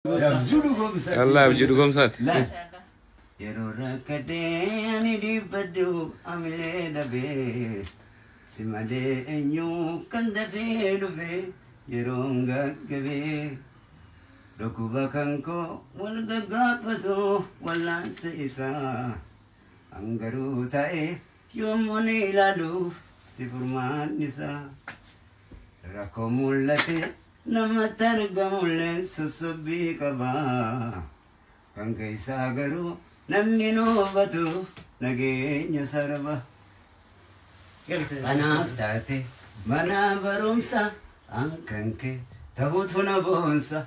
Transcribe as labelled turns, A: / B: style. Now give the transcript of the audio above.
A: Dhallaa abjuu dhugoomsaati. Yeroo
B: rakkadee ani dhiibbadhu amilee dhabee si malee eenyu kan dafee dhufe yeroon gaggabee dhukkuba kan koo wal gaggaafatu wallaansa isaa hangaruu ta'e yommuu ni ilaaluuf si furmaannisaa. Rakkoo mul'ate namatti argamulleen sossobbii qaba. Kan keessaa garuu namni hin hubatu nageenya sarba. Kanaaf taate mana barumsa an kan kee tahutu na boonsa.